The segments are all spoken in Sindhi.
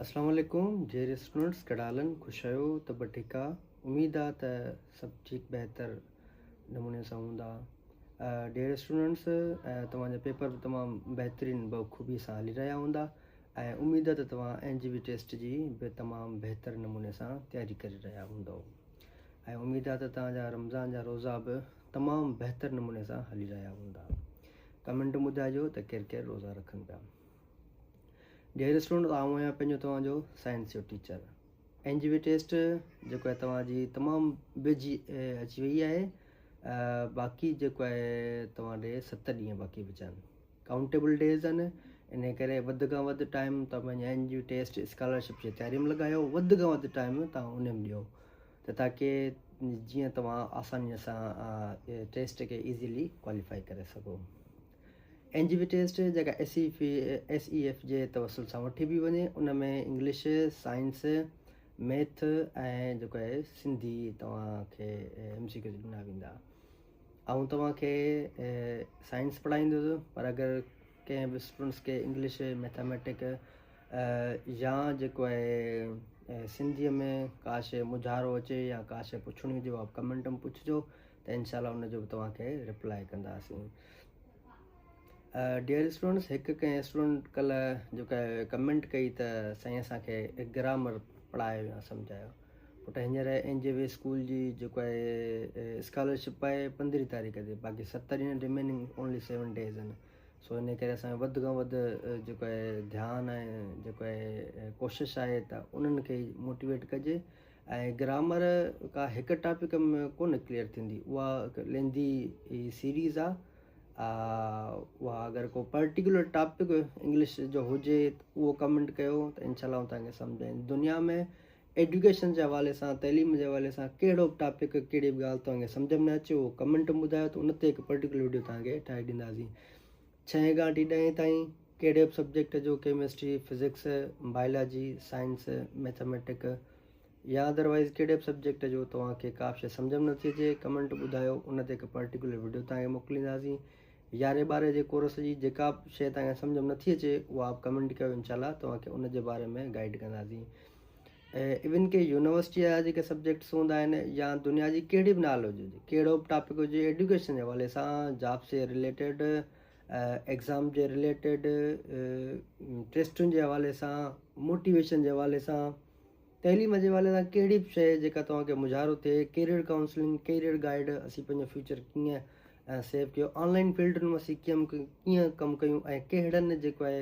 السلام عليڪم جيئري اسٽوڊنٽس ڪهڙا حالن خوش آهيو ته به ٺيڪ آ اميد آ ته سڀ ٺيڪ بهتر نموني سان هوندا ڊيئر اسٽوڊنٽس توهان جا پيپر به تمام بهترين بخوبي سان هلي رهيا هوندا ۽ اميد آ ته توهان اين جي بي ٽيسٽ جي به تمام بهتر نموني سان تياري ڪري رهيا هوندو ۽ اميد آ ته توهان جا رمضان جا روزا به تمام بهتر نموني سان هلي رهيا هوندا ڪمنٽ ۾ ٻڌائجو ته ڪير ڪير روزا رکن پيا ڊيئر اسٽوڊنٽس آئون آهيان پنهنجو توهان جو سائنس جو teacher N J V test جيڪو آهي توهان جي تمام ويجهي اچي وئي آهي باقي جيڪو آهي توهان ڏي ست ڏينهن باقي بچا آهن ڪائونٽيبل ڊيز آهن ان ڪري وڌ کان وڌ ٽائيم توهان پنهنجي N J V test scholarship جي تياري ۾ لڳايو وڌ کان وڌ ٽائيم توهان ان ۾ ڏيو ته تاڪي جيئن توهان آسانيء سان ٽيسٽ کي ايزيلي ڪواليفائي ڪري سگهو اينجيوٽيسٽ جيڪا S A S A F جي توسل سان وٺي بي وڃي ان ۾ انگلش سائنس ميٿ ۽ جيڪو آهي سنڌي توهان کي ايم سي کي ڏنا ويندا آئون توهان کي سائنس پڙهائيندس پر اگر ڪنهن به اسٽوڊنٽس کي انگلش ميٿامیٽڪ يا جيڪو آهي سنڌيء ۾ ڪا شيء مجھارو اچي يا ڪا شيء پڇڻي هجي اها ڪمينٽ ۾ پڇجو ته انشاء الله ان جو به توهان کي ريپلائي ڪنداسين ڊيئر اسٽوڊنٽس هڪ ڪنهن اسٽوڊنٽ ڪلهه جيڪا ڪمينٽ ڪئي ته سائين اسان کي گرامر پڙهايو يا سمجھايو پٽ هينئر اين جي وي اسڪول جي جيڪو آهي اسڪالرشپ آهي پندرهين تاريخ تي باقي ستر ڏينهن ريميننگ اونلي سيون ڊيز آهن سو ان ڪري اسان وڌ کان وڌ جيڪو آهي ڌيان آهي جيڪو آهي ڪوشش آهي ته انهن کي موٽيويٽ ڪجي ۽ گرامر ڪا هڪ ٽاپڪ ۾ ڪونه ڪليئر ٿيندي اها هڪ لينڌي سيريز آ اها اگر ڪو پرٽيڪولر ٽاپڪ انگلش جو هجي اهو ڪمنٽ ڪيو ته انشاء الله آئون تنهنکي سمجهائين دنيا ۾ ايڊيوڪيشن جي حوالي سان تعليم جي حوالي سان ڪهڙو به ٽاپڪ ڪهڙي به ڳالهه تنهنکي سمجهه ۾ نه اچي اهو ڪمنٽ ٻڌايو ته ان تي هڪ پرٽيڪولر ويڊيو تنهنکي ٺاهي ڏينداسين ڇهين کان وٺي ڏهين تائين ڪهڙي به سبجيڪٽ جو chemistry, physics, biology, science, mathematic يا اڌروائيز ڪهڙي به سبجيڪٽ جو توهان کي ڪا به شيء سمجهه ۾ نٿي اچي ڪمنٽ ٻڌايو ان تي هڪ پرٽيڪولر وڊيو توهان کي موڪلينداسين. يارهين ٻارهين جي ڪورس جي جيڪا به شيء توهان کي سمجهه ۾ نٿي اچي اها به ڪمنٽ ڪيو انشاء الله توهان کي ان جي باري ۾ گائيڊ ڪنداسين. ايون ڪي يونيورسٽي جا جيڪي سبجيڪٽس هوندا آهن يا دنيا جي ڪهڙي به نالج هجي ڪهڙو به ٽاپڪ هجي ايڊوڪيشن جي حوالي سان جاب سي رليٽيڊ ايگزام جي رليٽيڊ ٽيسٽن جي حوالي سان موٽيويشن جي حوالي سان تعليم جي حوالي سان کهڙي به شيء جيڪا توهانکي مظاهرو ٿئي ڪيريئر ڪائونسلنگ ڪيريئر گائيڊ اسين پنهنجو فيوچر ڪيئن سيو ڪيو آنلائن فيلڊن ۾ اسين ڪيئن ڪم ڪيون ۽ ڪهڙن جيڪو آهي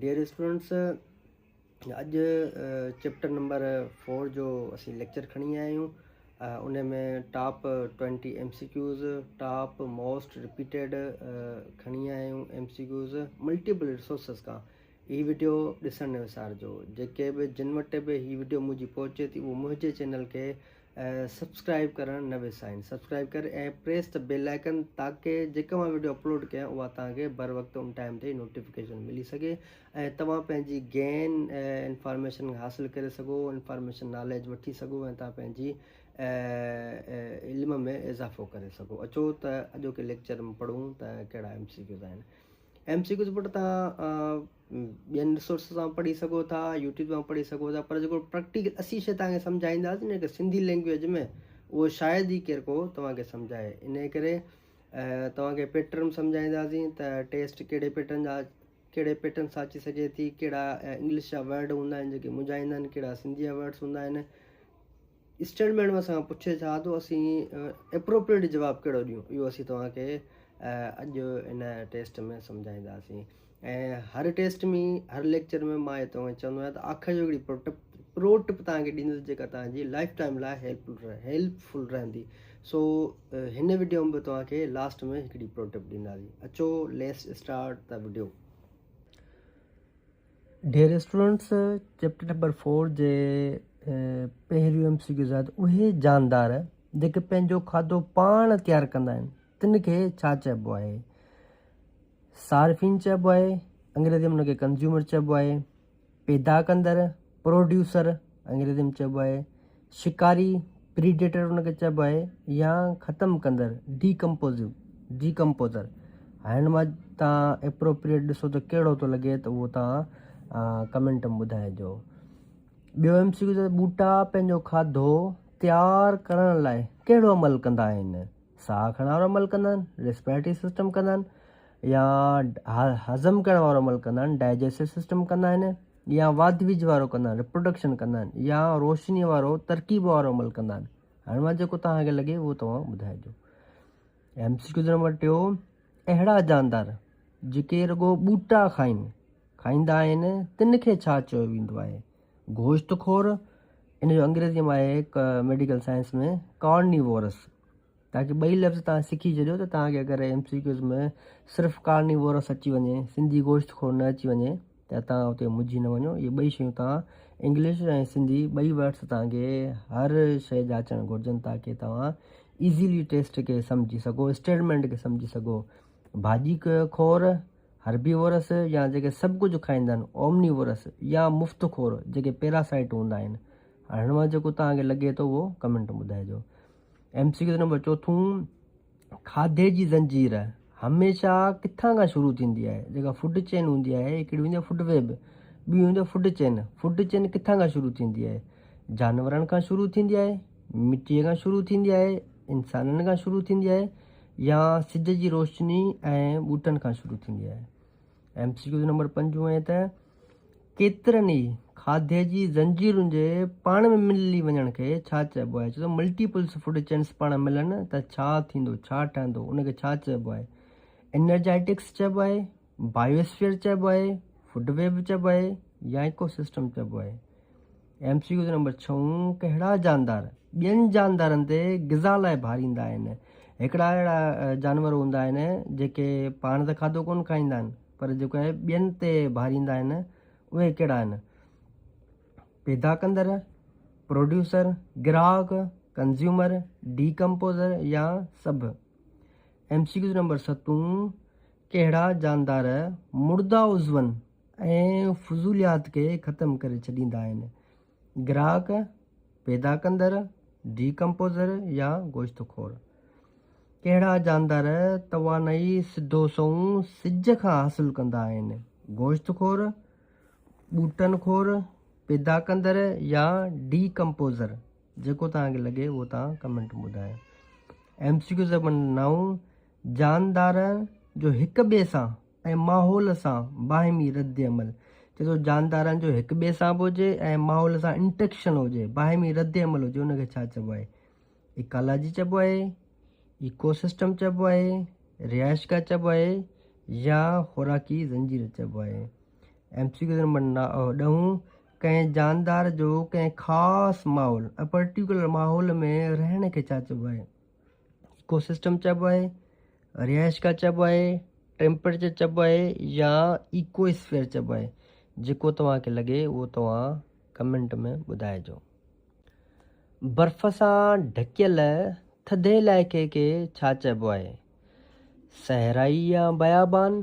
ڊيئر اسٽوڊنٽس اڄ چيپٽر نمبر فور جو اسين ليڪچر کڻي آيا آهيون ان ۾ top twenty M C Qs top most repeated کڻي آيا آهيون M C Qs multiple resources کان هي ويڊيو ڏسڻ نه وسارجو جيڪي به جن وٽ به هي ويڊيو منهنجي پهچي ٿي اهو منهنجي چينل کي سبسڪرائب ڪرڻ نه وسائين سبسڪرائب ڪر ۽ پريس ته بيل آئڪن تاڪي جيڪا مان ويڊيو اپلوڊ ڪيان اها توهان کي بر وقت ان ٽائم تي نوٽيفڪيشن ملي سگهي ۽ توهان پنهنجي گين انفارميشن حاصل ڪري سگهو انفارميشن ناليج وٺي سگهو ۽ توهان پنهنجي علم ۾ اضافو ڪري سگهو اچو ته اڄوڪي ليڪچر ۾ پڙهون ته ڪهڙا ايم سي ڪيوز آهن ايم سي ڪيوز پٽ توهان ٻين رسورسز تان پڙهي سگهو ٿا يوٽيوب تان پڙهي سگهو ٿا پر جيڪو پريڪٽيڪل اسين شي تان کي سمجهائينداسين نه ڪي سنڌي لينگويج ۾ اهو شايد ئي ڪير ڪو توهان کي سمجهائي ان ڪري توهان کي پيٽرن سمجهائينداسين ته ٽيسٽ ڪهڙي پيٽرن جا ڪهڙي پيٽرن سان اچي سگهي ٿي ڪهڙا انگلش جا ورڊ هوندا آهن جيڪي مجهائيندا آهن ڪهڙا سنڌي جا ورڊس هوندا آهن اسٽيٽمينٽ مان سان پڇي ٿا ته اسين اپروپريٽ جواب ڪهڙو ڏيون اهو اسين توهان کي اڄ ان ٽيسٽ ۾ سمجهائينداسين ۽ هر ٽيسٽ ۾ هر ليڪچر ۾ مان اهي توهان چوندو آهيان ته آخر جو هڪڙي پروٽ پرو ٽپ توهان کي ڏيندس جيڪا توهان جي لائف ٽائم لاء هيلپ هيلپفل رهندي سو هن ويڊيو ۾ به توهان کي لاسٽ ۾ هڪڙي پرو ٽپ ڏينداسين اچو ليس اسٽارٽ دا ويڊيو ڊي ريسٽورنٽس چيپٽر نمبر فور جي پهريون ايم سي ڪيو زائد اهي جاندار جيڪي پنهنجو کاڌو پاڻ تيار ڪندا آهن تن کي ڇا چئبو آهي صارفين چئبو آهي انگريزي ۾ ان کي ڪنزيومر چئبو آهي پيدا ڪندڙ پروڊيوسر انگريزي ۾ چئبو آهي شڪاري، Predator، ان کي چئبو آهي يا ختم ڪندڙ، Decomposive، Decomposer، هائين هن مان تان Appropriate ڏسو ته ڪهڙو ٿو لڳي ته اهو تان ڪمينٽ ۾ ٻڌائي جو. ٻيو ايم سي ڪيو چئي ٿو ٻوٽا پنهنجو کاڌو تيار ڪرڻ لاء ڪهڙو عمل ڪندا آهن؟ ساهه کڻڻ وارو عمل ڪندا آهن، Respiratory System، ڪندا آهن يا هضم ڪرڻ وارو عمل ڪندا آهن، Digestive System، ڪندا آهن. يا واڌ ويجهه وارو ڪندا آهن، Reproduction، ڪندا آهن يا روشنيء وارو، ترڪيب وارو، عمل ڪندا آهن؟ هن مان جيڪو توهان کي لڳي اهو توهان ٻڌائجو. ايم سي ڪيو نمبر ٽيون، اهڙا جاندار جيڪي رڳو ٻوٽا کائين، کائيندا آهن، تن کي ڇا چيو ويندو آهي؟ گوشت خور، ان جو انگريزيء ۾ آهي ميڊيڪل سائنس ۾ Carnivorous. تاڪي ٻئي لفظ توهان سکي ڇڏيو ته توهان کي اگر ايم سي ڪيوز ۾ صرف ڪارنيوورس اچي وڃي سنڌي گوشت خور نه اچي وڃي ته توهان اتي مجهي نه وڃو اهي ٻئي شيون توهان انگلش ۽ سنڌي ٻئي ورڊس توهان کي هر شيء جا اچڻ گهرجن تاڪي توهان ايزيلي ٽيسٽ کي سمجهي سگهو اسٽيلمينٽ کي سمجهي سگهو ڀاڄي خور هربي ورس يا جيڪي سڀ ڪجهه کائيندا آهن اومني ورس يا مفت خور جيڪي پيراسائيٽ هوندا آهن هاڻ هن مان جيڪو توهان کي لڳي ٿو اهو ڪمينٽ ٻڌائجو ايم سي ڪيو نمبر چوٿون، کاڌي جي زنجير هميشه ڪٿان کان شروع ٿيندي آهي؟ جيڪا فوڊ چين هوندي آهي هڪڙي هوندي آهي فوڊ ويب ٻي هوندي آهي فوڊ چين فوڊ چين ڪٿان کان شروع ٿيندي آهي؟ جانورن کان شروع ٿيندي آهي مٽي کان شروع ٿيندي آهي انسانن کان شروع ٿيندي آهي يا سج جي روشني ۽ ٻوٽن کان شروع ٿيندي آهي؟ ايم سي ڪيو نمبر پنج ائين ته ڪيترن ئي کاڌي جي زنجيرن جي پاڻ ۾ ملي وڃڻ کي ڇا چئبو آهي؟ ڇو ملٽيپلس فوڊ چينس پاڻ ملن ته ڇا ٿيندو، ڇا ٺهندو، ان کي ڇا چئبو آهي؟ انرجائيٽڪس چئبو آهي، بائيوسفيئر چئبو آهي، فوڊ ويب چئبو آهي يا ايڪو سسٽم چئبو آهي؟ ايم سي ڪيو نمبر ڇهون ڪهڙا جاندار ٻين جاندارن تي غذا لاء ڀاريندا آهن هڪڙا اهڙا جانور هوندا آهن جيڪي پاڻ ته کاڌو ڪونه کائيندا آهن پر جيڪو آهي ٻين تي ڀاريندا آهن اهي ڪهڙا آهن پيدا ڪندڙ پروڊيوسر گراهڪ ڪنزيومر ڊي ڪمپوزر يا سڀ ايم سي ڪيو نمبر ستون ڪهڙا جاندار مردا عضون ۽ فضوليات کي ختم ڪري ڇڏيندا آهن. گراهڪ، پيدا ڪندڙ، ڊي ڪمپوزر يا گوشت خور. ڪهڙا جاندار توانائي سڌو سنئون سج کان حاصل ڪندا آهن؟ گوشت خور، ٻوٽن خور، پيدا ڪندڙ يا ڊي ڪمپوزر؟ جيڪو توهان کي لڳي اهو توهان ڪمينٽ ۾ ٻڌايو. ايم سي ڪيو سيڪشن نو جاندارن جو هڪ ٻئي سان ۽ ماحول سان باهمي ردعمل جي ٿو جاندارن جو هڪ ٻئي سان به هجي ۽ ماحول سان انٽريڪشن هجي باهمي ردعمل هجي ان کي ڇا چئبو آهي ايڪالاجي چئبو آهي ايڪو سسٽم چئبو آهي رهائشگاهه چئبو آهي يا خوراڪي زنجير چئبو آهي ايم سي ڪيو نمبر ڏهون ڪنهن جاندار جو ڪنهن خاص ماحول ۽ پرٽيڪولر ماحول ۾ رهڻ کي ڇا چئبو آهي ايڪو سسٽم چئبو آهي، رهائشگاهه چئبو آهي، ٽيمپريچر چئبو آهي يا ايڪو اسفيئر چئبو آهي جيڪو توهان کي لڳي اهو توهان ڪمينٽ ۾ ٻڌائجو. برف سان ڍڪيل ٿڌي علائقي کي ڇا چئبو آهي؟ صحرائي يا بيابان؟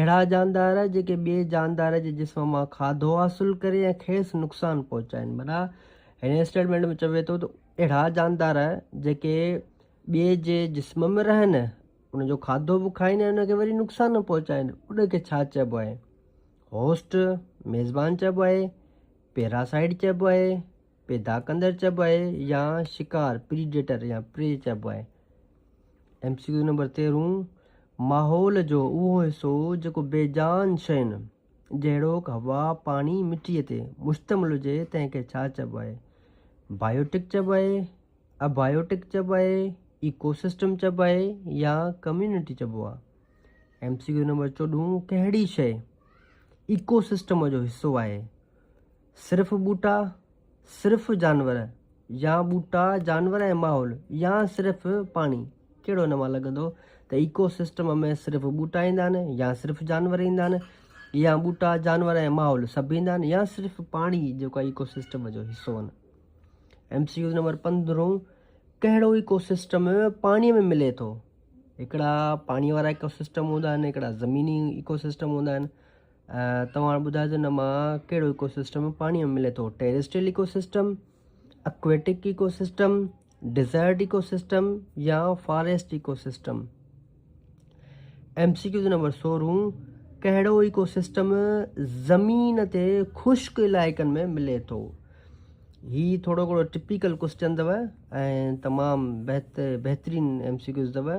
اهڙا جاندار جيڪي ٻئي جاندار جي جسم مان کاڌو حاصل ڪري ۽ کيس نقصان پهچائين معنيٰ هن اسٽيٽمينٽ ۾ چوي ٿو ته اهڙا جاندار جيڪي ٻئي جي جسم ۾ رهن ان جو کاڌو به کائن ۽ ان کي وري نقصان پهچائن ان کي ڇا چئبو آهي هوسٽ ميزبان چئبو آهي پيراسائيڊ چئبو آهي پيدا ڪندڙ چئبو آهي يا شڪار، Predator، يا Prey چئبو آهي. ايم سي ڪيو نمبر تيرهون، ماحول جو اهو حصو جيڪو بي جان شين جهڙوڪ هوا، پاڻي، مٽيء تي مشتمل هجي تنهن کي ڇا چئبو آهي؟ بائيوٽڪ چئبو آهي، ابائيوٽڪ چئبو آهي، ايڪو سسٽم چئبو آهي يا ڪميونٽي چئبو آهي. ايم سي ڪيو نمبر چوڏهون، ڪهڙي شيء ايڪو سسٽم جو حصو آهي؟ صرف ٻوٽا، صرف جانور يا ٻوٽا، جانور ۽ ماحول يا صرف پاڻي؟ ڪهڙو ان مان لڳندو ته ايڪو سسٽم ۾ صرف ٻوٽا ايندا آهن يا صرف جانور ايندا آهن يا ٻوٽا، جانور ۽ ماحول سڀ ايندا آهن يا صرف پاڻي جيڪو ايڪو سسٽم جو حصو آهن. ايم سي ڪيو نمبر پندرهون ڪهڙو ايڪو سسٽم پاڻي ۾ ملي ٿو؟ هڪڙا پاڻي وارا ايڪو سسٽم هوندا آهن هڪڙا زميني ايڪو سسٽم هوندا آهن توهان ٻڌائجو نه مان ڪهڙو ايڪو سسٽم پاڻي ۾ ملي ٿو terrestrial ecosystem aquatic ecosystem desert ecosystem يا forest ecosystem M C Qs number سورهون ڪهڙو ايڪو سسٽم زمين تي خشڪ علائقن ۾ ملي ٿو هي ٿورو گهڻو ٽپيڪل ڪوشچن اٿو ۽ تمام بهتر بهترين ايم سي کيوز اٿو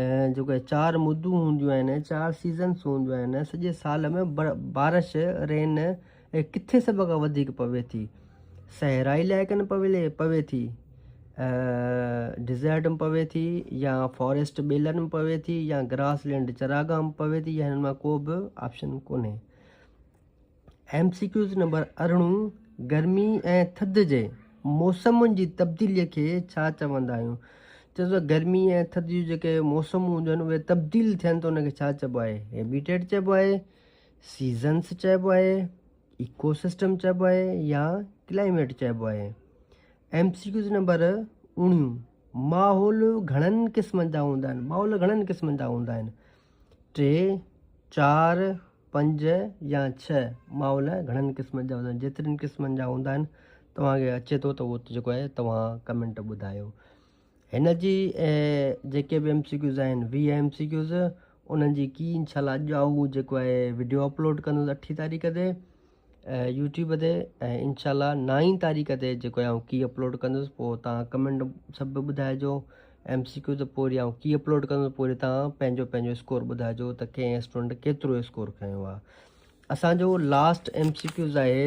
۽ جيڪو هي چار مدون هونديون آهن چار سيزنس هونديون آهن سڄي سال ۾ بارش رين ڪٿي سڀ کان وڌيڪ پوي ٿي صحرائي علائقن پوي پوي ٿي ڊزرٽ ۾ پوي ٿي يا فاريسٽ ٻيلن ۾ پوي ٿي يا گراس لينڊ چراگاهه ۾ پوي ٿي يا هن مان ڪو به آپشن ڪونهي ايم سي ڪيوز نمبر ارڙهن گرمي ۽ ٿڌ جي موسمن جي تبديلي کي ڇا چوندا آهيون چئو ته گرمي ۽ ٿڌ جون جيڪي موسمون هونديون آهن اهي تبديل ٿين ته ان کي ڇا چئبو آهي هيبيٽيٽ چئبو آهي سيزنس چئبو آهي ايڪو سسٽم چئبو آهي يا ڪلائميٽ چئبو آهي ايم سي ڪيوز نمبر اڻيون ماحول گھڻن قسمن جا هوندا آهن ماحول گھڻن قسمن جا هوندا آهن ٽي چار پنج يا ڇهه مائو لاء گهڻن قسمن جا هوندا آهن جيترن قسمن جا هوندا آهن توهان کي اچي ٿو ته اهو جيڪو آهي توهان ڪمينٽ ٻڌايو هن جي جيڪي به ايم سي ڪيوز آهن ويهه ايم سي ڪيوز انهن جي ڪي انشاء الله اڄ آئون جيڪو آهي ويڊيو اپلوڊ ڪندس اٺين تاريخ تي يوٽيوب تي ۽ انشاء الله نائين تاريخ تي جيڪو آئون ڪي اپلوڊ ڪندس پوء تان ڪمينٽ سڀ به ٻڌائجو ايم سي ڪيو ته پوء وري آئون ڪي اپلوڊ ڪندس پوء وري تان پنهنجو پنهنجو اسڪور ٻڌائجو ته ڪنهن اسٽوڊنٽ ڪيترو اسڪور کنيو آ اسان جو لاسٽ ايم سي ڪيوز آهي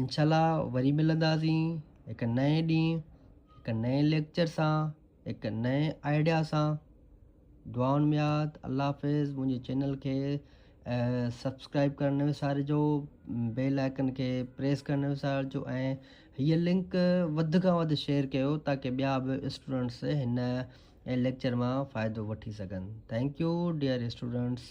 انشاء الله وري ملنداسين هڪ نئين ڏينهن هڪ نئين ليڪچر سان هڪ نئين آئيڊيا سان دعائن ۾ ياد الله حافظ منهنجي چينل کي سبسڪرائب ڪرڻ نه وسارجو بيل آئڪن کي پريس ڪرڻ نه وسارجو ۽ هيء لنڪ وڌ کان وڌ شيئر ڪيو تاڪي ٻيا به اسٽوڊنٽس هن ليڪچر مان فائدو وٺي سگهن ٿينڪ يو ڊيئر اسٽوڊنٽس